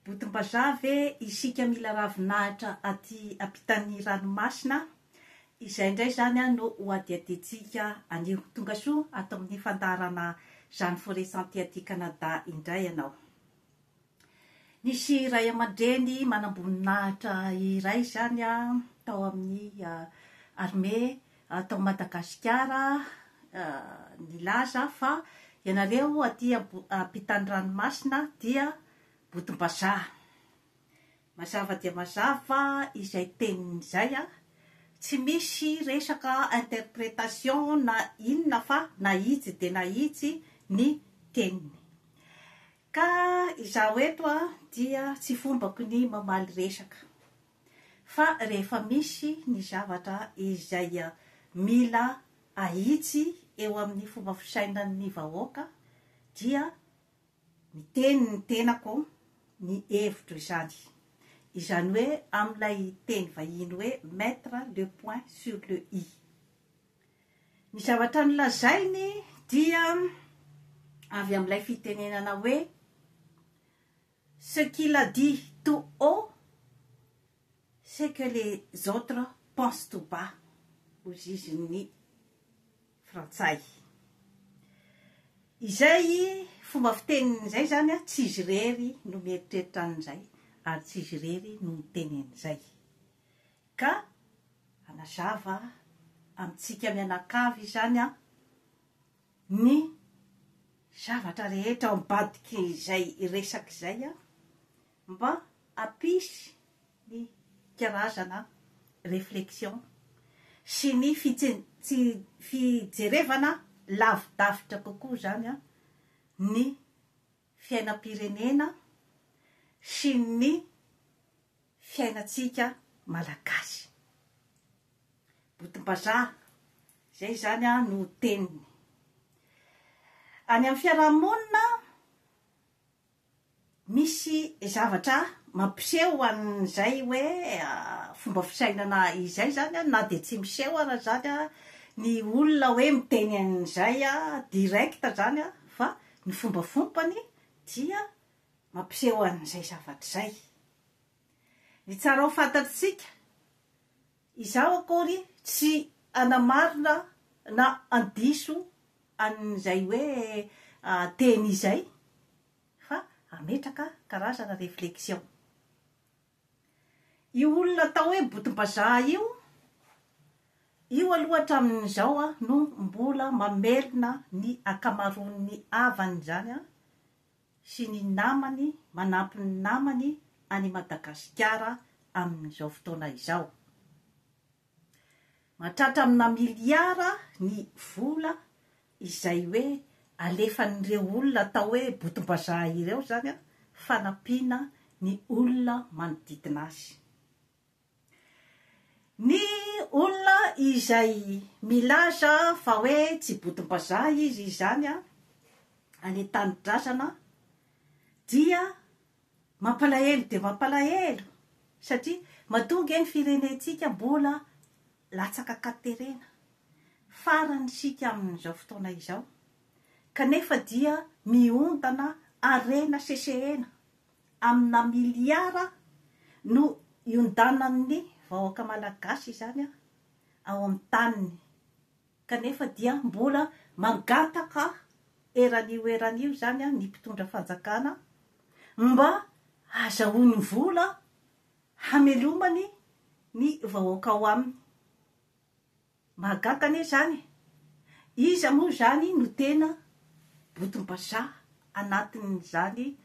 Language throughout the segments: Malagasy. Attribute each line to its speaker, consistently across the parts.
Speaker 1: Botom-bazaha ve isika mila ravinahitra aty ampitan'ny ranomasina? Izay indray izany no hohadihadiantsika anio. Tonga soa ato amin'ny fandaharana Jeanne Foresanty aty Canada indray ianao. Nisy ray aman-dreny manam-boninahitra iray izany tao amin'ny armée Ato Madagasikara nilaza fa ianareo aty ampitan'ny ranomasina dia botom-bazaha. Mazava dia mazava izay teniny izay a! Tsy misy resaka interprétation na inona fa na ijy dia na ijy ny teniny. Ka izaho eto dia tsy fombako ny mamaly resaka. fa rehefa misy ny zavatra izay mila ahitsy eo amin'ny fomba fisainan'ny vahoaka dia miteny ny tenako ny hevitro izany. Izany hoe amin'ilay teny vahiny hoe mettre le point sur le i. Ny zavatra nolazainy dia avy amin'ilay fitenenana hoe Ce qu'il a dit tout haut c'est que les autres pensent tout bas ho zizin'ny frantsay. Izay fomba fiteniny izay izany tsy izy irery no mieritreritra an'izay ary tsy izy irery no miteny an'izay. Ka hanazava amintsika mianakavy izany aho ny zavatra rehetra ao ambadikin'izay resaka izay aho mba hampisy ny karazana réflexion sy ny fijerevana lavidavitra kokoa izany ny fiainam-pirenena sy ny fiainantsika Malagasy. Botim-bazaha, izay izany no teniny. Any amin'ny fiarahamonina, misy zavatra mampiseho an'izay hoe fomba fisainana izay izany na dia tsy miseho ara izany ny olona hoe miteny an'izay direct izany fa Ny fombafompany dia mampiseho an'izay zavatra izay. Ny tsara ho fantatr'tsika, izaho akory tsy hanamarina na handiso an'izay hoe teny izay fa hametraka karazana réflexion. Io olona atao hoe botom-bazaha io, io aloha hatramin'izao no mbola mamelona ny ankamaroan'ny havany izany sy ny namany manampy ny namany any Madagasikara amin'izao fotoana izao. Mahatratra amina miliara ny vola izay hoe alefan'ireo olona atao hoe botom-bazaha ireo izany fanampiana ny olona manodidina azy. Ny olona izay milaza fa hoe tsy botom-bazaha izy izany any an-tanindrazana dia Mampalahelo dia mampalahelo satria matoa ange ny firenentsika mbola latsaka katerena, farany isika amin'izao fotoana izao, kanefa dia miondana harena sesehena amina miliara no iondanan'ny vahoaka malagasy izany ao amin'ny taniny. kanefa dia mbola mangataka eran'io eran'io izany ny mpitondra fanjakana mba hazahoany vola hamelomany ny vahoaka ao aminy. Mahagaga anie izany e! Iza moa izany no tena botom-bazaha anatin'izany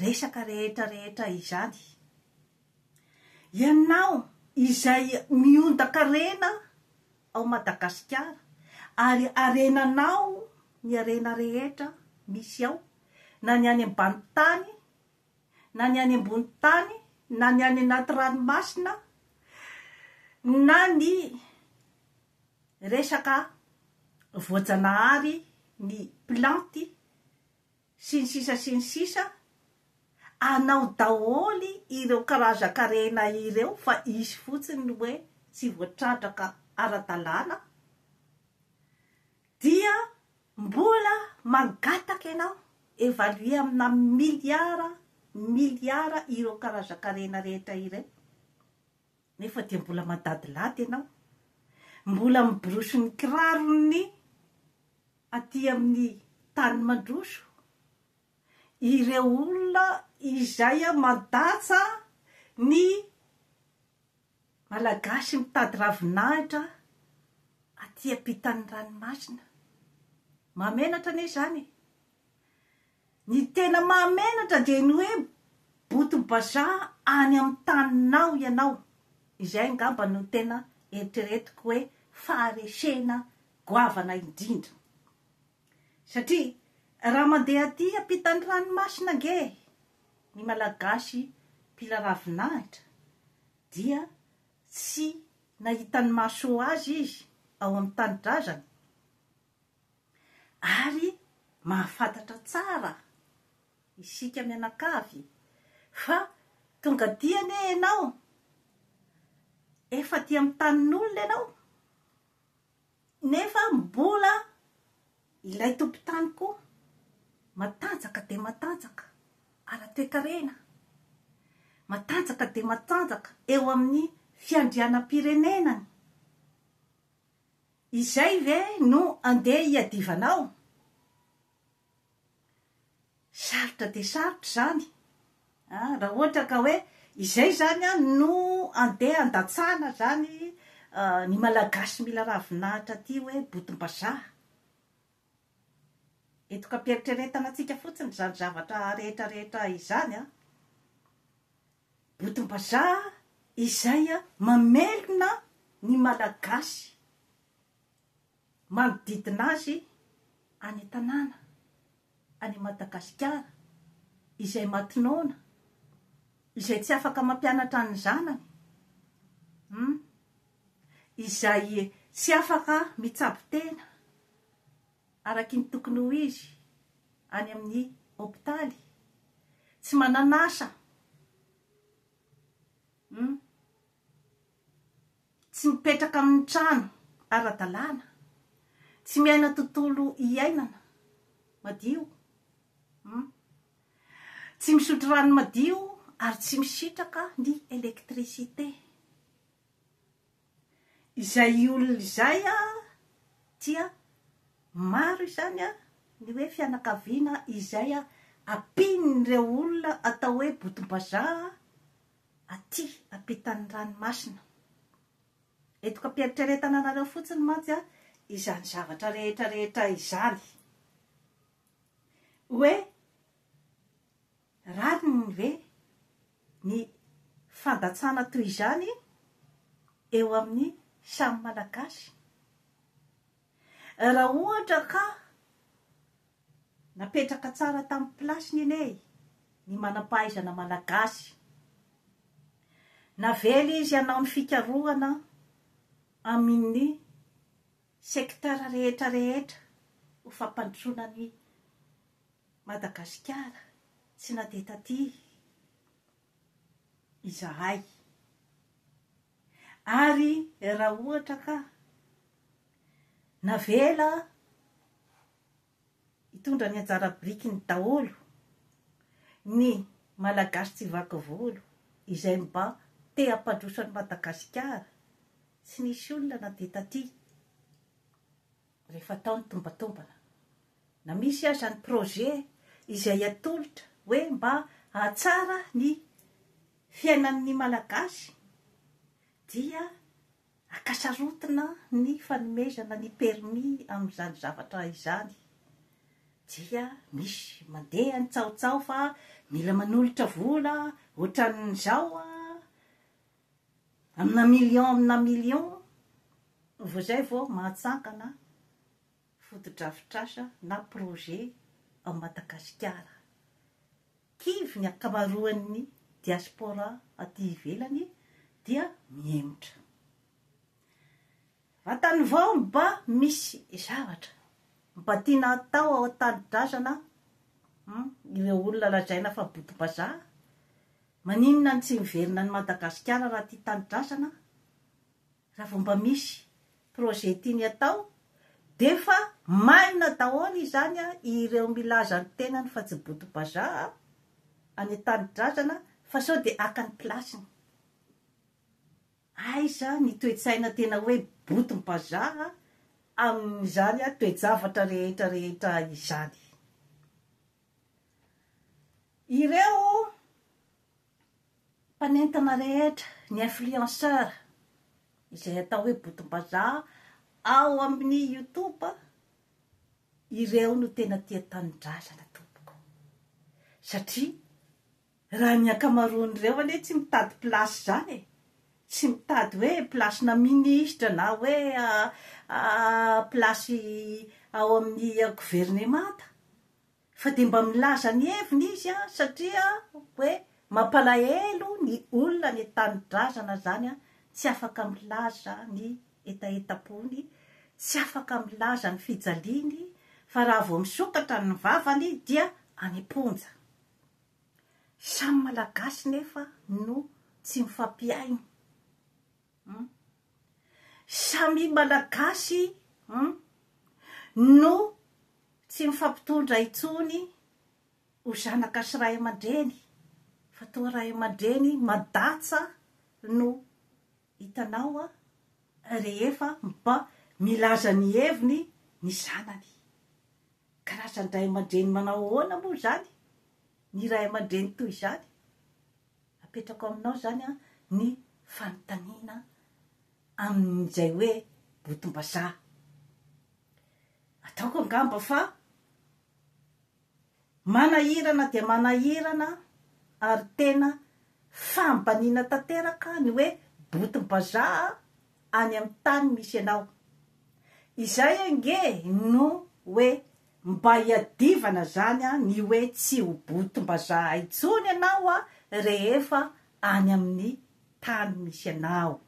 Speaker 1: resaka rehetra rehetra izany? Ianao izay miondan-karena ao Madagasikara ary harenanao ny harena rehetra misy ao na ny any ambany tany na ny any ambony tany na ny any anaty ranomasina na ny resaka voajanahary ny plantes sy ny sisa sy ny sisa anao daholo ireo karazan-karena ireo fa hisy fotsiny ny hoe tsy voatrandraka ara-dalàna dia mbola mangataka ianao evaluer amina milliards milliards ireo karazan-karena rehetra ireo. Nefa dia mbola madadilady ianao. Mbola miborosy ny kirarony aty amin'ny tany mandroso. Ireo olona izay mandatsa ny Malagasy mitady ravinahitra aty ampitan'ny ranomasina. Mahamenatra anie izany e! Ny tena mahamenatra dia ny hoe boto bazaha any amin'ny taninao ianao, izay angamba no tena eritreretiko hoe faharesena goavana indrindra. Satria raha mandeha aty ampitan'ny ranomasina ange ny Malagasy mpila ravinahitra dia tsy nahitan'ny maso azy izy ao amin'ny tanindrazany, Ary mahafantatra tsara isika mianakavy fa tonga aty anie ianao, efa aty amin'ny tanin'olona ianao, nefa mbola ilay tompon-tany koa matanjaka dia matanjaka ara-toekarena, matanjaka dia matanjaka eo amin'ny fiandrianam-pirenenany. Izay ve no andeha hiadivanao? Sarotra dia sarotra izany an! Raha ohatra ka hoe izay izany an no andeha handatsahana izany ny Malagasy mila ravinahitra aty hoe botom-bazaha. Eto ka am-pieritreretana antsika fotsiny izany zavatra rehetra rehetra izany an! Botom-bazaha izay mamelona ny Malagasy manodidina azy any an-tanàna, any Madagasikara, izay matinona, izay tsy afaka mampianatra ny zanany, humm, izay tsy afaka mitsabo tena, araky ny tokony ho izy any amin'ny hopitaly, tsy manan'asa, hum, tsy mipetraka amin'ny trano ara-dalàna, tsy miaina tontolo iainana madio, hum, tsy misotro rano madio ary tsy misitraka ny électricité. Izay olona izay dia maro izany ny hoe fianakaviana izay ampian'ireo olona atao hoe botom-bazaha aty ampitan'ny ranomasina. Eto am-pieritreretana anareo fotsiny mantsy izany zavatra rehetra rehetra izany. Hoe Rariny ve ny fandatsana toy izany eo amin'ny samy Malagasy? Raha ohatra ka napetraka tsara tamin'ny plasiny anie ny manam-pahaizana Malagasy, navela izy hanao ny fikarohana amin'ny secteur rehetra rehetra ho fampandrosoana ny Madagasikara tsy nadeha taty izahay ary raha ohatra ka navela hitondra ny anjara birikiny daholo ny Malagasy tsy vaky volo izay mba te hampandroso an'i Madagasikara tsy nisy olona nadeha taty. Rehefa atao ny tombantombana, na misy aza ny projet izay atolotra hoe mba hahatsara ny fiainan'ny Malagasy dia akasarotina ny fanomezana ny permis amin'izany zavatra izany dia misy mandeha ny tsaotsaho fa mila manolotra vola ohatran'izao an, Amina million amina million vao zay vao mahatsangana fotodrafitrasa na projet ao Madagasikara. Kivy ny ankamaroan'ny diaspora aty ivelany dia mihemotra. Vantany vao mba misy zavatra mba tiana hatao ao an-tanindrazana ireo olona lazaina fa botom-bazaha. Maninona no tsy miverina any Madagasikara raha tia tanidrasana? Raha vao mba misy projet tiany hatao dia efa maina daholo izany an, ireo milaza ny tenany fa tsy boto-bazaha any an-tanidrazana fa sao dia haka ny place-ny. Aiza ny toe-tsaina tena hoe botom-bazaha amin'izany toe-javatra rehetra rehetra izany? Ireo mpanentana rehetra, ny influenceur, izay atao hoe botom-bazaha ao amin'ny youtube, ireo no tena tia tanindrazana tompoko satria Raha ny ankamaroan'ireo anie tsy mitady place izany e! Tsy mitady hoe place-na ministra na hoe place ao amin'ny governemanta fa dia mba milaza ny heviny izy an! satria hoe mampalahelo ny olona any an-tanindrazana izany an! tsy afaka milaza ny hetahetam-pony, tsy afaka milaza ny fijaliany fa raha vao misokatra ny vavany dia any am-ponja. Samy malagasy nefa no tsy mifampihaino hum. Samia malagasy hum no tsy mifampitondra intsony ho zanaka sy ray aman-dreny fa toa ray aman-dreny madatsa no Hitanao a, rehefa mba milaza ny heviny ny zanany. Karazan-dray aman-dreny manao ahoana moa izany ny ray aman-dreny toy izany? Apetrako aminao izany an ny fanontaniana amin'izay hoe botom-bazaha. Ataoko angamba fa. Manahirana dia manahirana ary tena fahambaniana tanteraka ny hoe botim-bazaha any amin'ny tany misy anao. Izay ange no hoe mba hiadivana izany ny hoe tsy ho botim-bazaha intsony ianao rehefa any amin'ny tany misy anao.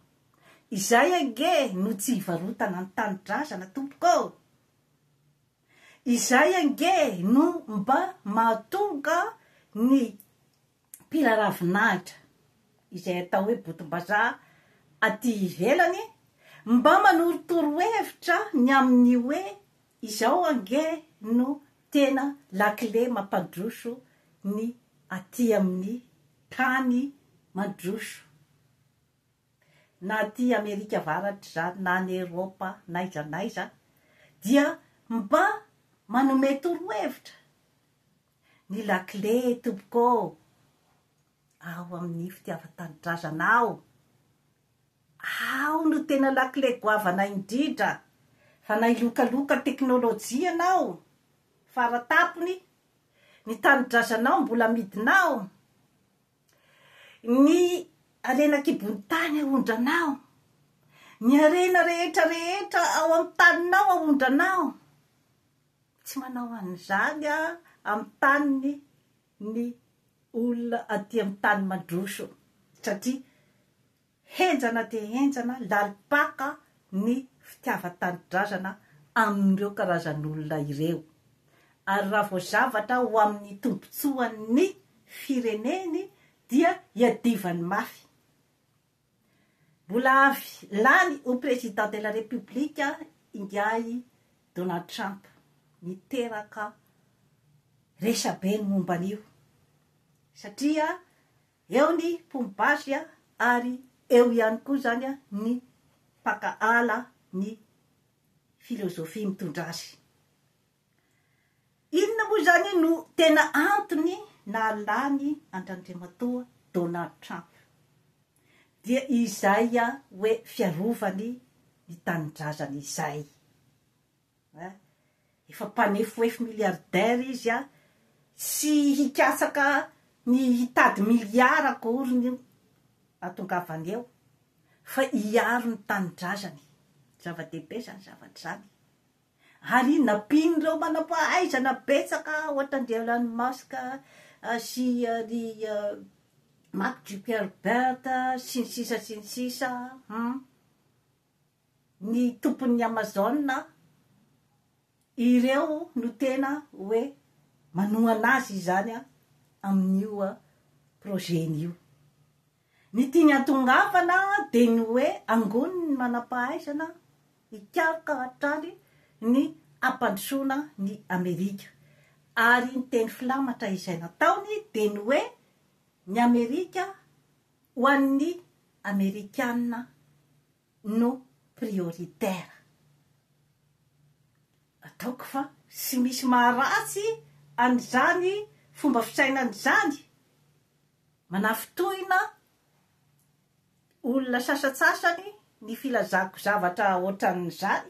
Speaker 1: Izay ange no tsy hivarotana ny tanindrazana tompoko ô! Izay ange no mba mahatonga ny mpila ravinahitra, izay atao hoe botom-bazaha aty ivelany, mba manoro torohevitra ny amin'ny hoe izao ange no tena lakile mampandroso ny aty amin'ny tany mandroso. na aty Amerika Avaratra na any Eropa n'aiza n'aiza dia mba manome torohevitra ny lakile tompoko ao amin'ny fitiavan-tanindrazanao, ao no tena lakile goavana indrindra fa na hilokaloka teknolojia ianao fara tampony ny tanindrazanao mbola amidinao. Ny harena an-kibon'ny tany aondranao, ny harena rehetra rehetra ao amin'ny taninao aondranao. Tsy manao an'izany Aho amin'ny taniny ny olona aty amin'ny tany mandroso, satria. Henjana dia henjana, lalim-paka ny fitiavan-tanindrazana amin'ireo karazan'olona ireo. Ary raha vao zavatra ho amin'ny tombontsoan'ny fireneny dia iadivany mafy. Mbola avy lany ho Président de la République ingahy Donald Trump, niteraka resabe ny momba an'io, satria. Eo ny mpomby basy ary eo ihany koa izany ny mpaka ala ny filozofia mitondra azy. Inona moa izany no tena antony nahalany an-dRandriamatoa Donald Trump? Dia izay hoe fiarovany ny tanindrazany izay. Hein? Efa mpanefoefo milliardaire izy an! Tsy hikatsaka ny hitady milliards akoriny io hahatongavany eo fa hiaro ny tanindrazany. Zava-dehibe izany zavatra izany. Ary nampian'ireo manam-pahaizana betsaka ohatran'dry Elon Musk sy ry Mark Zuckerberg sy ny sisa sy ny sisa. Hum. ny tompon'ny Amazon a! ireo no tena hoe manohana azy izany a! amin'io projet-ny io. Ny tiany hatongavana dia ny hoe angony ny manam-pahaizana hikaroka hatrany ny hampandrosoana ny Amerika. Ary ny teny filamatra izay nataony dia ny hoe ny Amerika ho an'ny Amerikana no prioritaire. Ataoko fa tsy misy maharatsy an'izany fomba fisainana izany, manafintohina olona sasantsasany ny filazako zavatra ohatran'izany,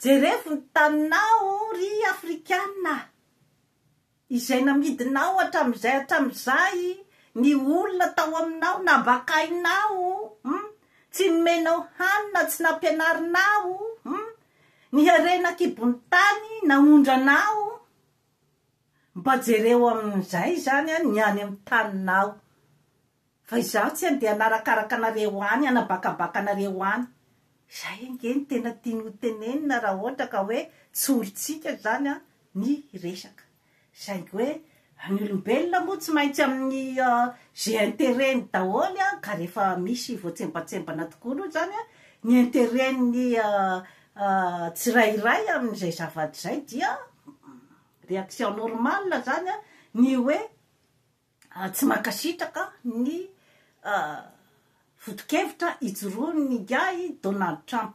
Speaker 1: Jerevo ny taninao ry afrikana izay namidinao hatramin'izay hatramin'izay ny olona tao aminao nambakainao hum tsy nomenao hanina tsy nampianarinao hum ny harena an-kibon'ny tany naondranao mba jereo amin'izay izany ny any amin'ny taninao Fa izaho tsy andeha hanarakaraka anareo any, hanabakabaka anareo any. Izay ange no tena tiany ho tenenina raha ohatra ka hoe tsy olontsika izany ny resaka. Saingy hoe ny olombelona moa tsy maintsy amin'ny ze interet-ny daholo ka rehefa misy voatsembatsembana tokoa aloha izany ny interet-ny tsirairay amin'izay zavatra izay dia reaction normale izany ny hoe Tsy mankasitraka ny foto-kevitra ijoroan'ny ingahy Donald Trump.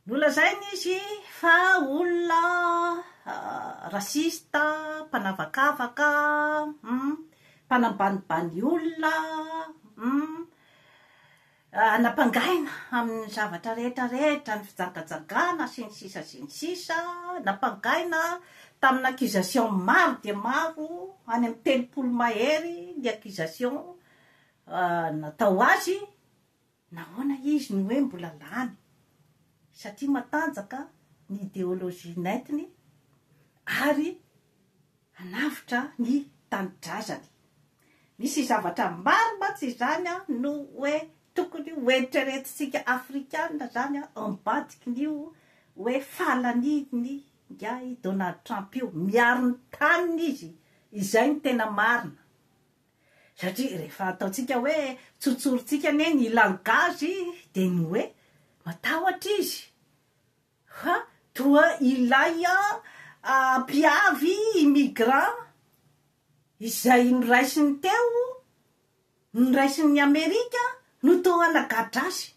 Speaker 1: Nolazainy izy fa olona rasista, mpanavakavaka, mpanambanibany olona, Nampangahina amin'ny zavatra rehetra rehetra, ny fijagajagana sy ny sisa sy ny sisa, nampangahina tamin'ny accusation maro dia maro, any amin'ny telopolo mahery ny accusation natao azy, nahoana izy no hoe mbola lany? satria matanjaka ny ideologie nentiny ary hanavotra ny tanindrazany. Misy zavatra maro mantsy izany no hoe tokony ho eritreretintsika afrikana izany ambadikin'io hoe fahalanian'ny ingahy Donald Trump io. Miaro ny taniny izy, izay no tena marina. Satria rehefa ataontsika hoe tsotsorintsika anie ny langazy dia ny hoe matahotra izy Ha! Toa ilay an mpiavy immigrant izay noraisiny teo, noraisin'ny Amerika no toa nagadra azy.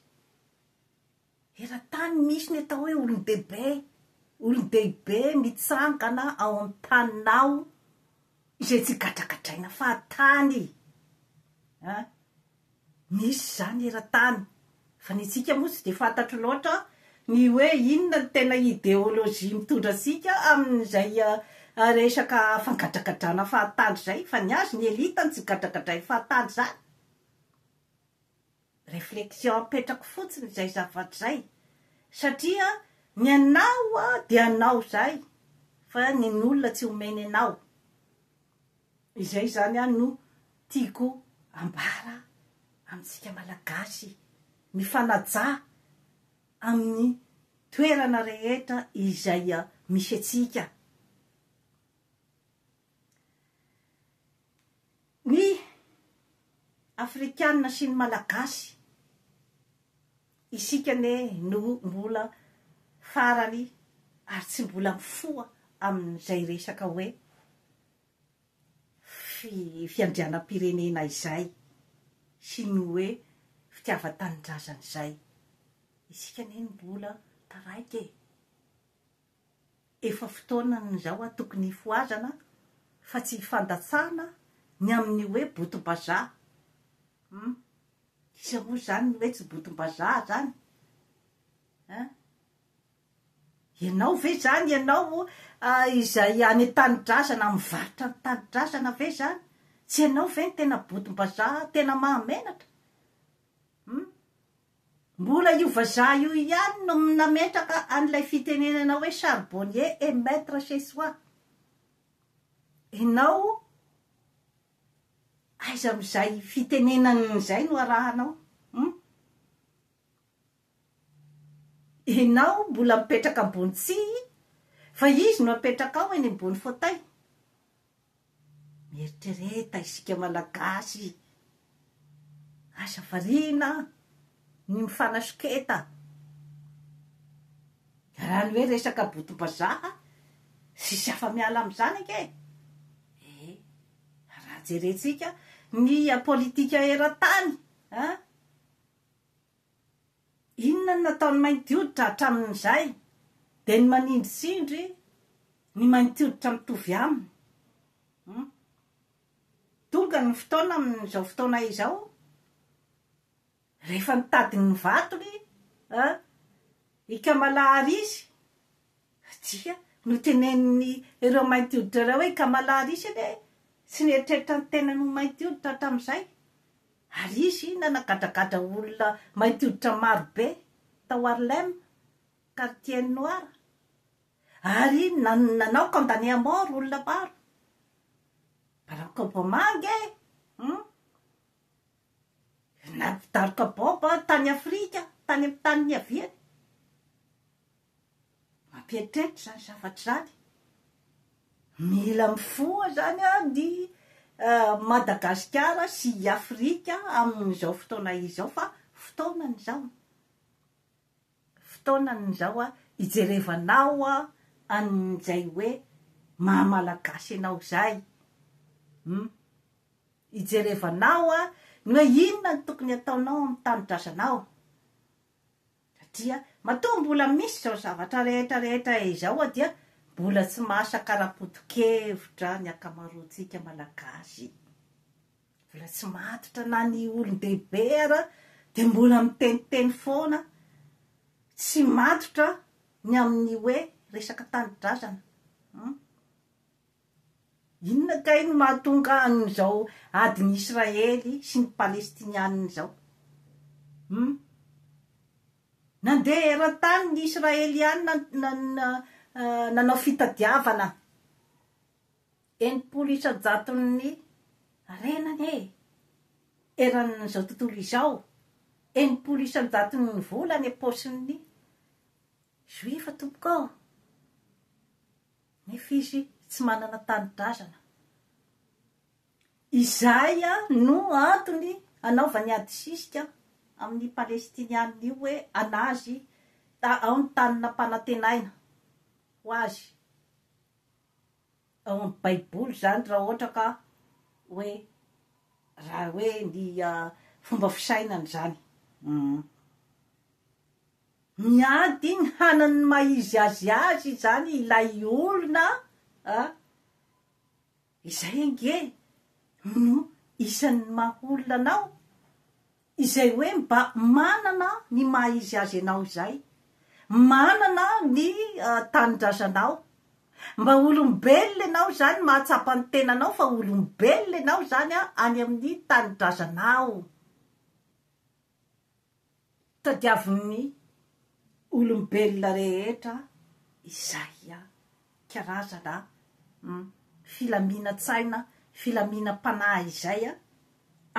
Speaker 1: Eran-tany misy ny atao hoe olon-dehibe, olon-dehibe mitsangana ao amin'ny taninao izay tsy gadragadraina fahatany. Nisy izany eran-tany. Fa ny antsika moa tsy dia fantatro loatra ny hoe inona no tena ideolojia mitondra antsika amin'izay resaka fangadragadrana fahatany izay. Fa ny azy ny elite no tsy gadragadrain'ny fahatany izany. Reflexion apetrako fotsiny izay zavatra izay. Satria ny anao dia anao izay fa ny an'olona tsy omeny anao. Izay izany an no tiako ambara amintsika malagasy mifanajà amin'ny toerana rehetra izay misy antsika. Ny afrikana sy ny malagasy isika anie no mbola farany ary tsy mbola mifoha amin'izay resaka hoe. fiandrianam-pirenena izay sy ny hoe fitiavan-tanindrazana izay. Isika anie no mbola taraiky e! Efa fotoanany izao a, tokony hifohazana fa tsy hifandatsahana ny amin'ny hoe botom-bazaha. Hum! Iza moa izany no hoe tsy botom-bazaha izany? Hein? Ianao ve izany ianao izay any an-tanidrazana mivarotra ny tanidrazana ve izany? Tsy ianao ve ny tena bodim-bazaha tena mahamenatra? Hum. Mbola io vazaha io ihany no nametraka an'ilay fitenenana hoe charbonnier est maitre chez soi. Ianao aiza amin'izay fitenenana izay no arahanao? Hum. Enao mbola mipetraka ambony tsihy fa izy no apetraka ao eny ambony fauteuil. Mieritrereta isika malagasy. Aza variana ny mifanasoketa. Raha ny hoe resaka botom-bazaha tsisy afa miala amin'izany ange e. Raha jerentsika ny politika eran-tany an. Inona no nataon'ny mainty hoditra hatramin'izay? Dia ny manindritsindry ny mainty hoditra mitovy aminy. Hum. Tonga ny fotoana amin'izao fotoana izao, rehefa nitady ny vatony an i Kamala Harris, dia notenenin'ireo mainty hoditra ireo hoe i Kamala Harris anie tsy nieritreritra ny tenany ho mainty hoditra hatramin'izay. Ary izy nanagadradradra olona mainty hoditra maro be tao Harlem, Quartier Noir, ary nanao condamné à mort olona maro. Barack Obama ange hum nampitaroka bomba tany Afrika, tany amin'ny tany niaviany. Mampieritreritra izany zavatra izany. Mila mifoha izany ny Madagasikara sy i Afrika amin'izao fotoana izao fa fotoanany izao. Fotoanany izao hijerevanao an'izay hoe maha Malagasy anao izay. Humm. Hijerevanao ny hoe inona no tokony hataonao amin'ny tanindrazanao. Satria matoa mbola misy izao zavatra rehetra rehetra izao a dia mbola tsy masaka ara-potokevitra ny akamaroantsika Malagasy. Mbola tsy matotra na ny olon-dehibe ara dia mbola miteniteny foana, tsy matotra ny amin'ny hoe resaka tanindrazana. Hum. Inona kay no mahatonga an'izao adin'i Israely sy ny Palestiniana izao? Hum. Nandeha eran-tany ny Israeliana nanao fitadiavana enimpolo isan-jaton'ny renany e! Eran'izao tontolo izao, enimpolo isan-jaton'ny vola any am-paosin'ny Juifa tompoko ô! Nefa izy tsy manana tanindrazana. Izay no antony anaovany adisisika amin'ny Palestiniana io hoe anazy ao ny tany nampanantenaina ho azy ao amin'ny baiboly izany raha ohatra ka hoe raha hoe ny fomba fisainany izany. Miady ny hanany ny maha izy azy azy izany ilay olona a! Izay ange no isan'ny maha olona anao, izay hoe mba manana ny maha izy azy anao izay, manana ny tanindrazanao, mba olombelona ianao izany, mahatsapa ny tenanao fa olombelona ianao izany any amin'ny tanindrazanao. Tadiavin'ny olombelona rehetra izay karazana filaminan-tsaina, filaminam-panahy izay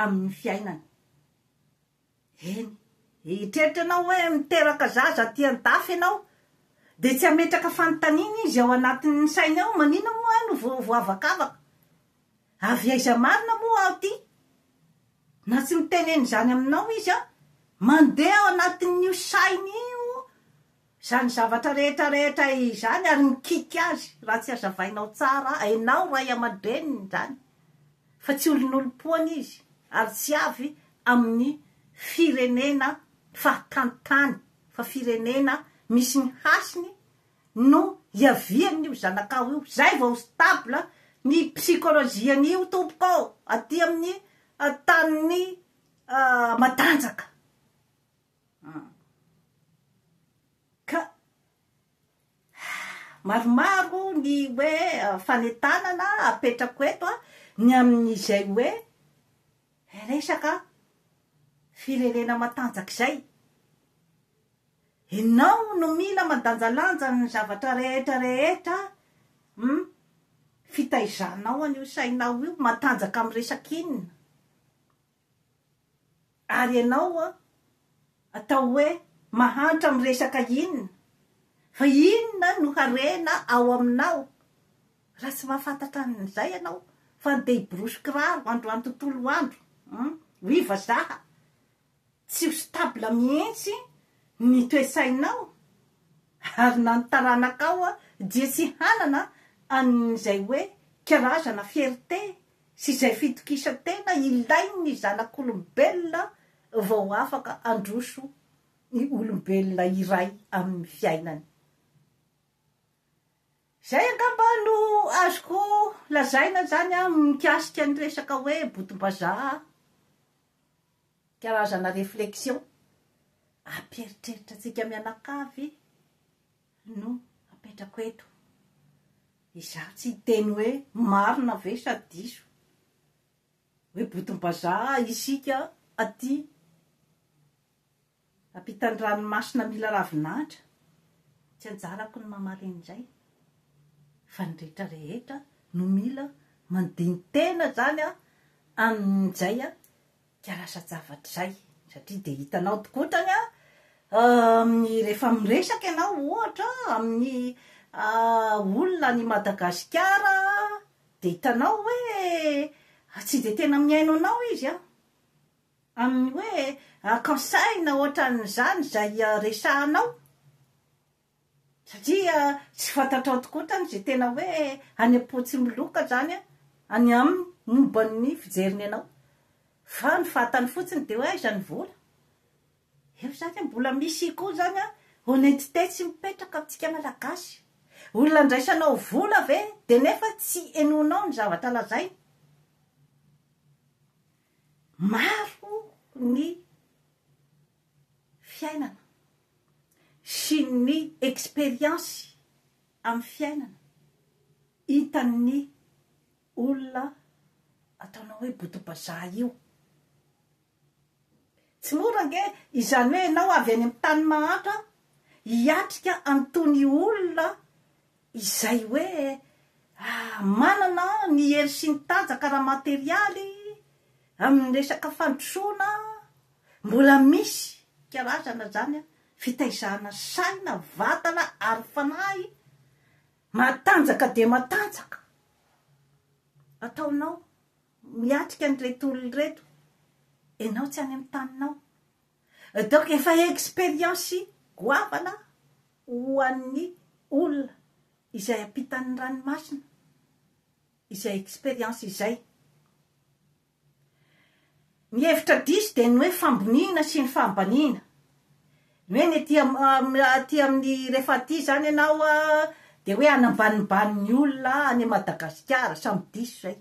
Speaker 1: amin'ny fiainany. Eny, eritreritra ianao hoe miteraka zaza aty an-dafy ianao, dia tsy hametraka fanontaniana izy ao anatin'ny sainy ao, maninona moa aho no voavakavaka? Avy aiza marina moa aho ity? Na tsy mitenena izany aminao izy an! Mandeha ao anatin'io sainy io izany zavatra rehetra rehetra izany ary mikiky azy raha tsy azavainao tsara enao ray aman-dreniny izany fa tsy olonolom-poana izy ary tsy avy amin'ny firenena fahatany tany fa firenena misy ny hasiny no hiavian'io zanakao io, zay vao stable ny psychologie-n'io tompoko ô, aty amin'ny tanin'ny matanjaka a! ka maromaro ny hoe fanentanana apetrako eto a, ny amin'izay hoe resaka firenena matanjaka izay, Enao no mila mandanjalanja ny zavatra rehetra rehetra hum fitaizanao an io sainao io matanjaka am resak inona ary enao an atao hoe mahantra am resaka inona fa inona no harena ao aminao raha tsy mahafantatra an izay enao fa ndeha hiborosy kiraro androany tontolo andro hum oui vazaha Tsy ho stable mihitsy ny toe-tsainao ary na ny taranakao dia tsy hanana an'izay hoe karazana fierté sy izay fitokisan-tena ilain'ny zanak'olombelona vao afaka handroso ny olombelona iray amin'ny fiainany. Izay angamba no azoko lazaina izany mikasika ny resaka hoe botom-bazaha Karazana réflexion ampieritreritra antsika mianakavy no apetrako eto. Izaho tsy hiteny hoe marina ve sa diso. Hoe botom-bazaha isika aty. Ampitan'ny ranomasina mila ravin'Atra, tsy anjarako ny mamaly indray fa ny rehetra rehetra no mila mandini-tena zany a amin'izay a ka lasa-javatra izay satria dia hitanao tokoa otrany a amin'ny rehefa miresaka ianao ohatra amin'ny olona any Madagasikara dia hitanao hoe tsy dia tena mihaino anao izy a. Amin'ny hoe akan-tsaina ohatran'izany izay resahanao? Satria tsy fantatrao tokoa tany izay tena hoe any am-potsimiloka izany any aminy momba ny fijeriny anao. Fa ny fantany fotsiny dia hoe aiza ny vola? Eo izany an, mbola misy koa izany an, honnêteté tsy mipetraka amintsika Malagasy. Olona andraisanao vola ve dia nefa tsy henoinao ny zavatra lazainy? Maro ny fiainana sy ny experience amin'ny fiainana hitan'ny olona ataonao hoe boto-bazaha io. Tsy mora ange izany hoe ianao avy any amin'ny tany mahantra hiatrika an'itony olona Izay hoe manana ny hery sy ny tanjaka ara-materialy amin'ny resaka fandrosoana, mbola misy karazana izany fitaizana saina, vatana ary fanahy matanjaka dia matanjaka ataonao miatrika an'ireto olona ireto, ianao tsy any amin'ny taninao. Donc efa experience goavana ho an'ny olona izay ampitan'ny ranomasina izay experience izay. Ny hevitra diso dia ny hoe famboniana sy ny fahambaniana. Ny hoe ny aty aty amin'ny rehefa aty izany ianao dia hoe hanambanimbany ny olona any Madagasikara, samy diso izay.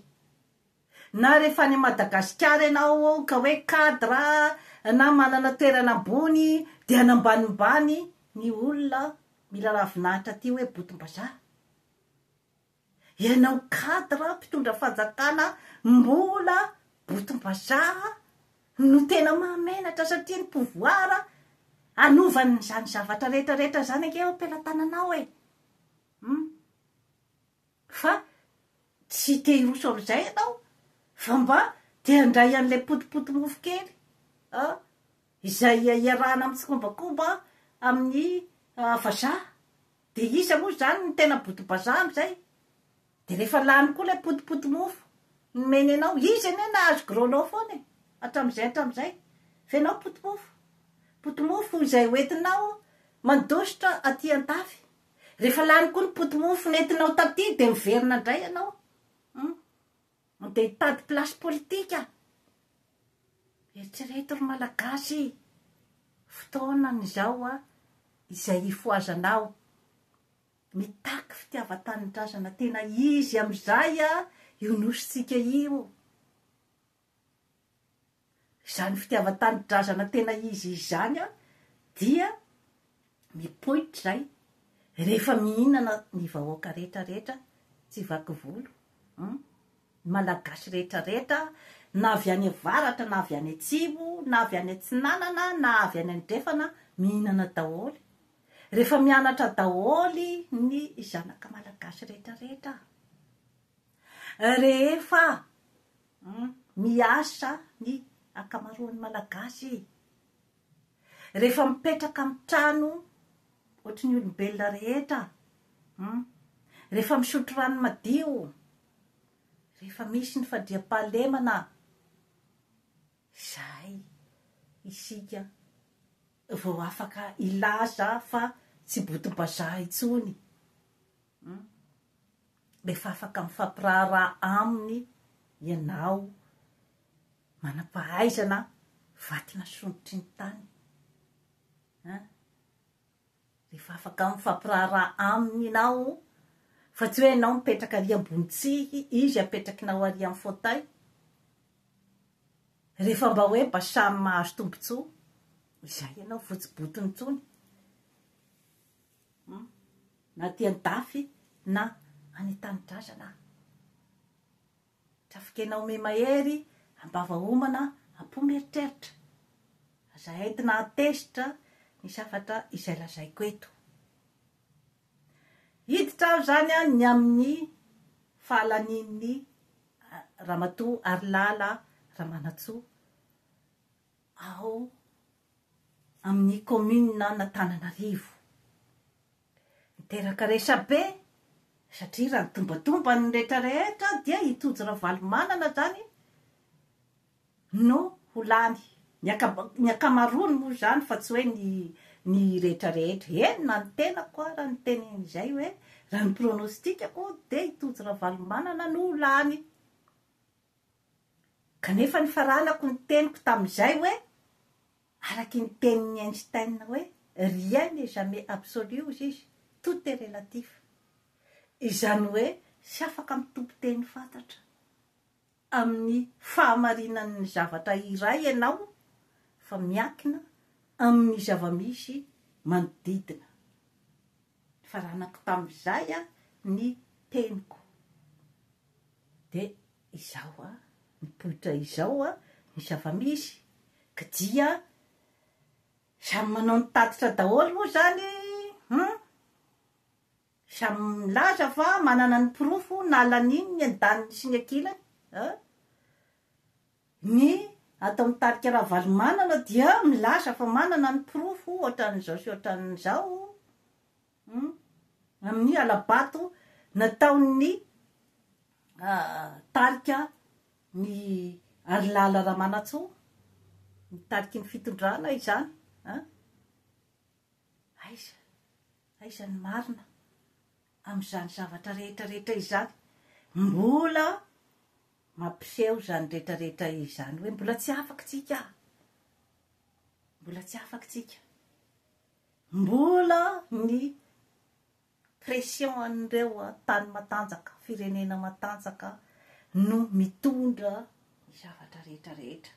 Speaker 1: Na rehefa any Madagasikara ianao ka hoe cadre na manana toerana ambony dia hanambanimbany ny olona mila ravinahitra aty hoe botom-bazaha. Ianao cadre mpitondra fanjakana mbola botom-bazaha no tena mahamenatra satria ny pouvoir anovany izany zavatra rehetra rehetra izany ange eo am-pelatananao e! Hum. Fa tsy te hiroso amin'izay ianao fa mba te handray an'ilay potipotimofo kely a, izay iarahana amin'ny tsikombakomba amin'ny vazaha. Dia iza moa izany no tena botom-bazaha amin'izay? Dia rehefa lany koa ilay potipotimofo nomeny anao, izy anie nahazo gros-lot foana e, hatramin'izay hatramin'izay. Fa ianao potimofo, potimofo izay hoentinao mandositra aty an-tafy. Rehefa lany koa ny poti-mofo nentinao taty dia miverina indray ianao hum! Mandeha hitady place politika! Eritrereto ry Malagasy! Fotoana izao a! Izay hifohazanao! Mitaky fitiavan-tanindrazana tena izy amin'izay a! Io Nosintsika io! Izany fitiavan-tanindrazana tena izy izany dia mipoitra izay rehefa mihinana ny vahoaka rehetra rehetra tsy vaky volo hum, ny malagasy rehetra rehetra na avy any avaratra na avy any atsimo na avy any atsinanana na avy any andrefana mihinana daholo rehefa mianatra daholo ny zanaka malagasy rehetra rehetra rehefa Humm miasa ny ankamaroan'ny malagasy e! Rehefa mipetraka amin'ny trano ohatry ny olombelona rehetra, humm rehefa misotro rano madio, rehefa misy ny fandriampahalemana, izay isika vao afaka hilaza fa tsy botom-bazaha intsony. Hum. Rehefa afaka mifampiraharaha aminy ianao manampahaizana vatina sondrotry ny tany an! Rehefa afaka mifampiraharaha aminy ianao fa tsy hoe ianao mipetraka ary ambony tsihy izy apetrakinao ary amin'ny fauteuil. Rehefa mba hoe mba samy mahazo tombotsoa izay ianao votsibotony intsony. Na aty andafy na any an-tanidrazana Trafikena ome mahery am-bava homana am-po mieritreritra Aza entina an-tezitra ny safatra izay lazaiko eto Hiditra aho izany an ny amin'ny fahalanian'ny Ramatoa Harilala Ramanantsoa ao amin'ny kaominin'Anatananarivo. Niteraka resabe satria raha ny tombantomban'ny rehetra rehetra dia i Tojo Ravalomanana izany no ho lany. Ny akama ny ankamaroany moa izany fa tsy hoe ny ny rehetra rehetra. Eny na ny tenako ara niteny izay hoe raha ny pronostic-ko dia i Tojo Ravalomanana no ho lany. Kanefa nifaranako ny teniko tamin'izay hoe, araky ny tenin'i Einstein hoe, rien n'est jamais absolu hozy izy, tout est relatif. Izany hoe tsy afaka mitompo teny fantatra amin'ny fahamarinan'ny zavatra iray ianao fa miankina amin'ny zava-misy manodidina. Nifaranako tamin'izay ny teniko. Dia Izao a, mipoitra izao a ny zava-misy ka dia samy manao ny tatitra daholo moa izany hum! Samy milaza fa manana ny porofo nalan'iny ny andaniny sy ny ankilany a! Ny ato amin'ny tarika Ravalomanana dia milaza fa manana ny porofo ohatran'izao sy ohatran'izao Humm amin'ny hala-bato nataon'ny tarika ny Harilala Ramanantsoa, ny tariky ny fitondrana izany an! Aiza, aiza ny marina amin'izany zavatra rehetra rehetra izany? Mbola mampiseho izany rehetra rehetra izany hoe mbola tsy afaka tsika, mbola tsy afaka tsika. Mbola ny pression an'ireo tany matanjaka, firenena matanjaka no mitondra ny zavatra rehetra rehetra.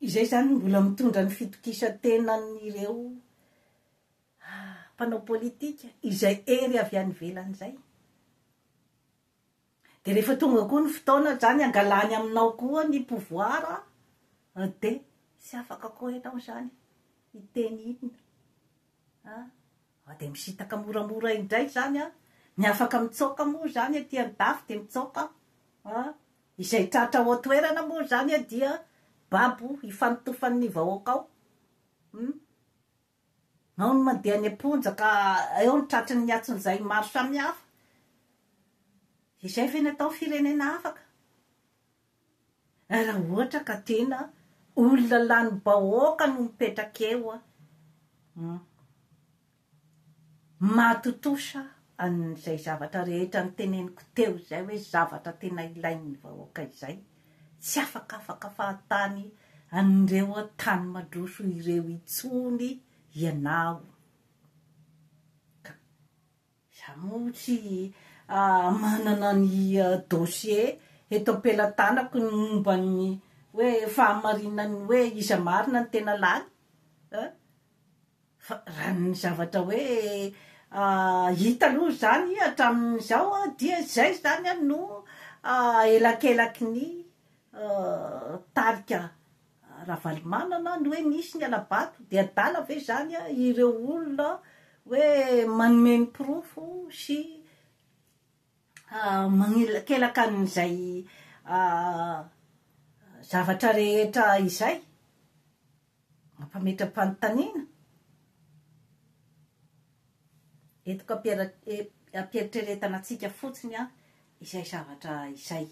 Speaker 1: Izay izany no mbola mitondra ny fitokisan-tenan'ireo mpanao politika izay hery avy any ivelany izay. Dia rehefa tonga koa ny fotoana zany angalany aminao koa ny pouvoir an, dia tsy afaka koa enao izany hiteny inona an, fa dia misintaka moramora indray izany an, ny afaka mitsoaka moa izany aty andafy dia mitsoaka an, izay tratra ao an-toerana moa izany dia babo hifanotofany ny vahoaka ao, hum. Ao ny mandeha any am-ponja ka eo ny tratry ny atsinjay maro samihafa. Izay ve ny atao ny firenena afaka? Raha ohatra ka tena olona lany bahoaka no mipetraka eo an! Hum. Mahatontosa an'izay zavatra rehetra noteneniko teo izay hoe zavatra tena ilain'ny vahoaka izay. tsy afakafaka fahatany an'ireo tany mandroso ireo intsony ianao ka. Izaho moa tsy manana ny dossier eto am-pelatanako ny momba ny hoe fahamarinan'ny hoe iza marina ny tena lany a! Fa raha ny zavatra hoe hita aloha izany hatramin'izao dia izay izany no elakelaky ny tarika Ravalomanana ny hoe nisy ny hala-bato dia adala ve izany ireo olona hoe manome ny porofo sy magnelakelaka an'izay zavatra rehetra izay? Mampametra-panontaniana? Eto ka ampiheritreretana antsika fotsiny izay zavatra izay.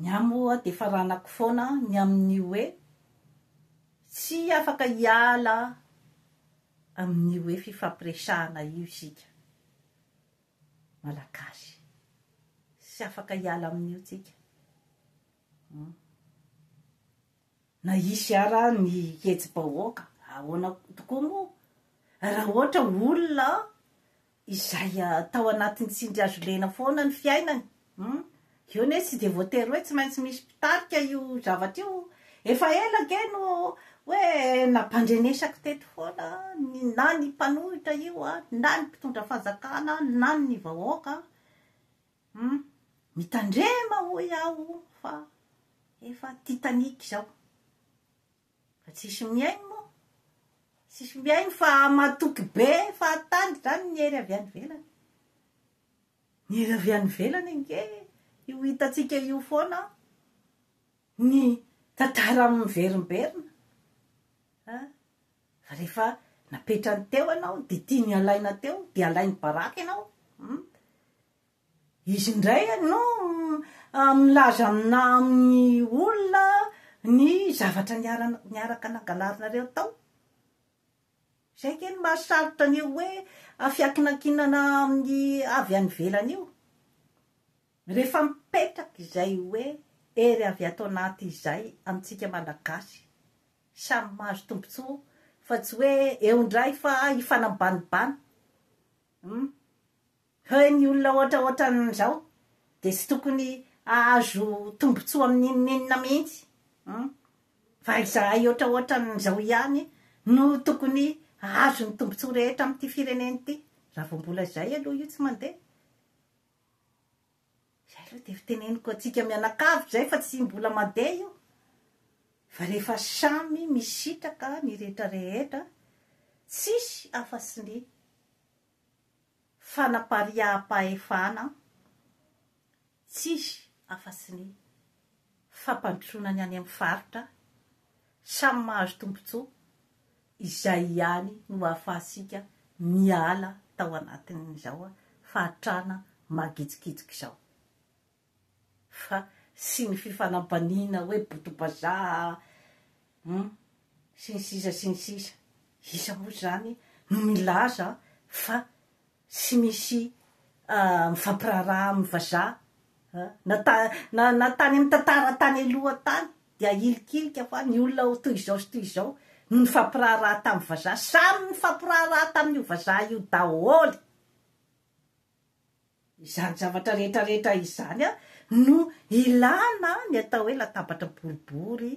Speaker 1: Ny ahy moa dia faranako foana ny amin'ny hoe tsy afaka hiala amin'io hoe fifampiresahana io isika Malagasy. Tsy afaka hiala amin'io tsika. Na hisy ara ny hetsi-bahoaka ahoana tokoa moa, raha ohatra olona izay tao anatin'ny tsindrihazo lena foana ny fiainany, hum, eo anie tsy dia voatery hoe tsy maintsy misy mpitarika io zavatra io, efa ela ange no hoe nampandrenesako teto foana na ny mpanohitra io, na ny mpitondra fanjakana, na ny vahoaka. Hum mitandrema hoy aho fa efa titanic zao fa tsisy mihaino moa tsisy mihaino fa matoky be fahatany zany ny hery avy any ivelany ny hery avy any ivelany ange io hitatsika io foana ny tantara miverimberina a Fa rehefa napetrany teo ianao dia tiany halaina teo dia alainy baraka ianao hum. Izy indray no milaza amina amin'ny olona ny zavatra niarana niaraka nangalarinareo tao. Izay ange no mahasarotra an'io hoe fiankinankinana amin'ny avy any ivelany io. Rehefa mipetraka izay hoe hery avy ato anaty izay amintsika malagasy Samy mahazo tombotsoa fa tsy hoe eo indray fa hifanambanibany humm. Heuh ny olona ohatraohatran'izao dia tsy tokony hahazo tombotsoa amin'inon'inona mihitsy humm. Fa izahay ohatraohatran'izao ihany no tokony hahazo ny tombotsoa rehetra amin'ity firenena ity raha vao mbola izay aloha io tsy mandeha. Izay aloha dia fiteneniko antsika mianakavy izay fa tsy mbola mandeha io fa rehefa samy misitraka ny rehetra rehetra tsisy afa tsy ny fanapariaham-pahefana tsisy afa tsy ny fampandrosoana ny any amin'ny faritra Samy mahazo tombontsoa, izay ihany no ahafahantsika miala tao anatin'izao fahantrana mangidikidiky izao. Fa sy ny fifanambaniana hoe boto-bazaha hum, sy ny sisa sy ny sisa. Iza moa izany no milaza fa Tsy misy mifampiraharaha amin'ny vazaha na na na tany amin'ny tantara tany aloha tany dia hilikilika fa ny olona toy izao sy toy izao no nifampiraharaha tamin'ny vazaha, samy nifampiraharaha tamin'io vazaha io daholo, izany zavatra rehetra rehetra izany no ilana ny atao hoe latabatra boribory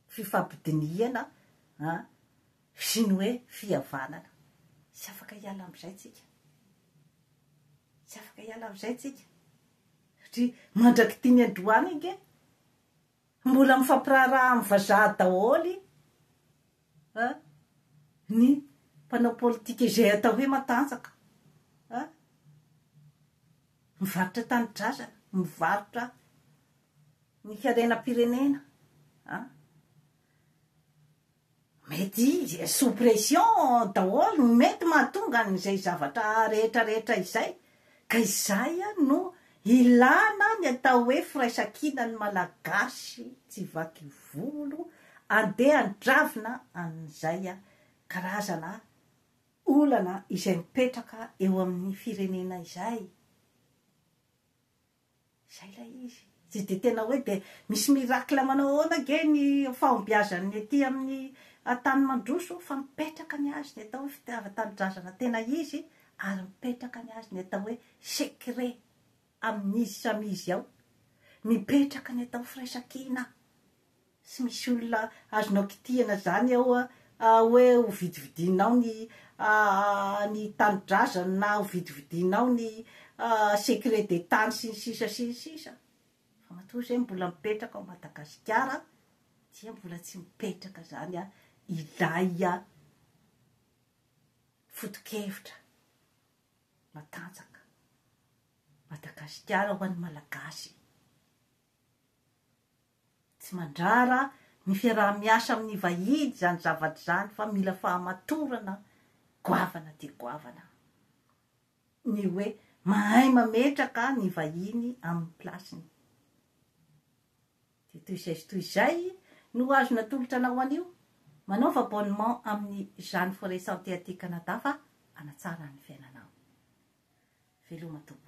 Speaker 1: fifampidinihana an sy ny hoe fihavanana. Tsy afaka hiala amin'izay tsika. Tsy afaka hiala amin'izay tsika. Satria mandrak'ity ny androany ange mbola mifampiraharaha amin'ny vazaha daholo an ny mpanao politika izay atao hoe matanjaka an. Mivarotra tanindrazana, mivarotra Ny fiarenam-pirenena an! Mety sous pression daholo no mety mahatonga an'izay zavatra rehetra rehetra izay ka izay no ilana ny atao hoe firaisankina ny Malagasy tsy vaky volo andeha handravina an'izay karazana olana izay mipetraka eo amin'ny firenena izay. Izay ilay izy. Tsy dia tena hoe dia misy miracle manao ahoana ange ny fahombiazan'ny aty amin'ny tany mandroso fa mipetraka ny azy ny atao hoe fitiavan-tanindrazana tena izy ary mipetraka ny azy ny atao hoe secret amin'izy samy izy ao. Mipetraka ny atao hoe firaisankina. Tsy misy olona azonao kitihana zany ao ah oe ho vidividinao ny ah ny tanidrazany na ho vidividinao ny ah secret des tany sy ny sisa sy ny sisa fa matoa zay mbola mipetraka ao Madagasikara dia mbola tsy mipetraka zany ah ilay ah fotokevitra matanjaka Madagasikara ho an'ny Malagasy. Tsy mandrara ny fiaraha-miasa amin'ny vahiny izany zavatra izany fa mila fahamatorana goavana dia goavana ny hoe mahay mametraka ny vahiny amin'ny place-ny. Dia toy izay sy toy izay no azo natolotra anao anio. Manaova abonnement amin'ny Jeanne Forêt Santé aty Canada fa hanatsara ny fiainanao. Veloma tompoko.